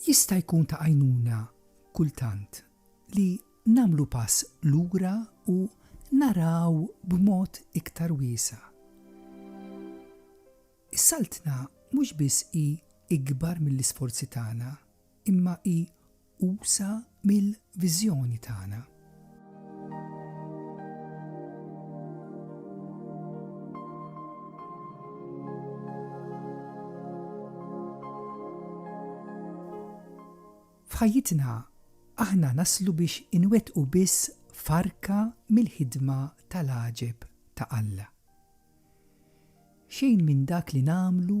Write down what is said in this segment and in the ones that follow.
Jista' jkun ta' għajnuna kultant li nagħmlu pass lura u naraw b'mod iktar wiesa'. Is-Saltna mhux biss hi ikbar mill-isforzi tagħna, imma hi usa mill-viżjoni tagħna. F'ħajjitna aħna naslu biex inwettqu biss farka mill-ħidma tal-għaġeb ta' Alla. Xejn minn dak li nagħmlu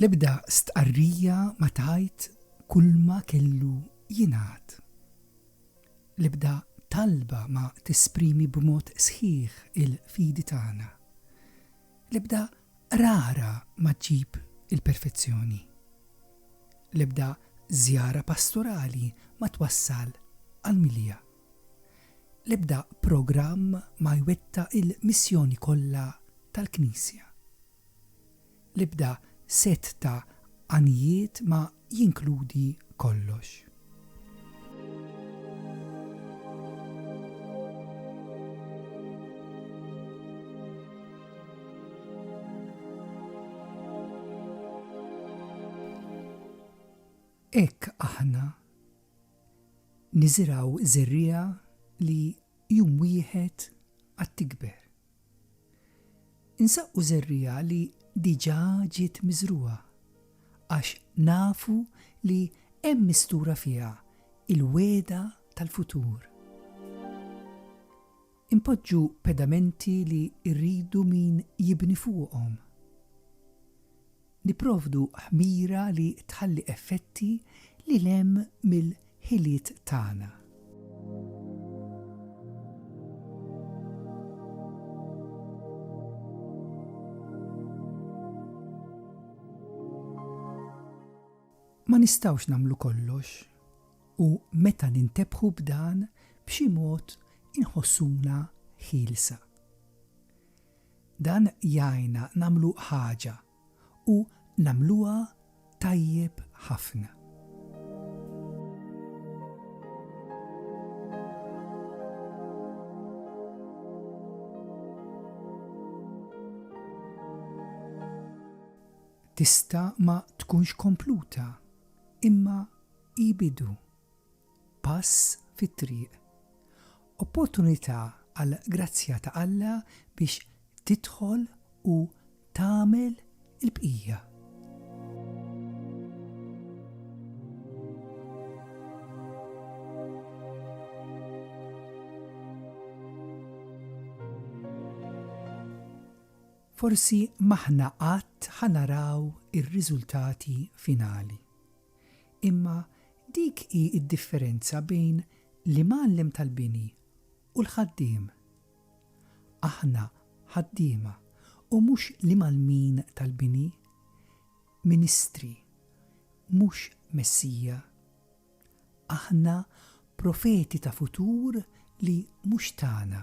L-ebda stqarrija ma tgħid kulma kellu jingħad. L-ebda talba ma tesprimi b'mod sħiħ il-fidi tagħna. L-ebda qrara ma ġġib il-perfezzjoni. L-ebda żjara pastorali ma twassal għall-milja. L-ebda programm ma jwettaq il-missjoni kollha tal-Knisja. L-ebda sett ta' għanijiet ma jinkludi kollox. Hekk aħna niżirgħu żerriegħa li jum wieħed għad tikber. Insaqqu żerriegħa li diġà ġiet miżrugħa, għax nafu li hemm mistura fiha l-wegħda tal-futur. Inpoġġu pedamenti li rridu min jibni fuqhom. Nipprovdu ħmira li tħalli effetti lil hemm mill-ħiliet tagħna. Ma nistgħux nagħmlu kollox, u meta nintebħu b'dan b'xi mod inħossuna ħielsa. Dan jgħinna nagħmlu ħaġa u nagħmluha tajjeb ħafna. Tista' ma tkunx kompluta, imma hi bidu. Pass fit-triq. Opportunità għal grazzja ta' Alla biex tidħol u tagħmel il-bqija. Forsi m'aħna qatt ħa naraw ir-riżultati finali. Imma dik hi d-differenza bejn l-imgħallem tal-bini u l-ħaddiem. Aħna ħaddiema u mhux l-imgħallmin tal-bini, ministri, mhux Messija. Aħna profeti ta' futur li mhux tagħna.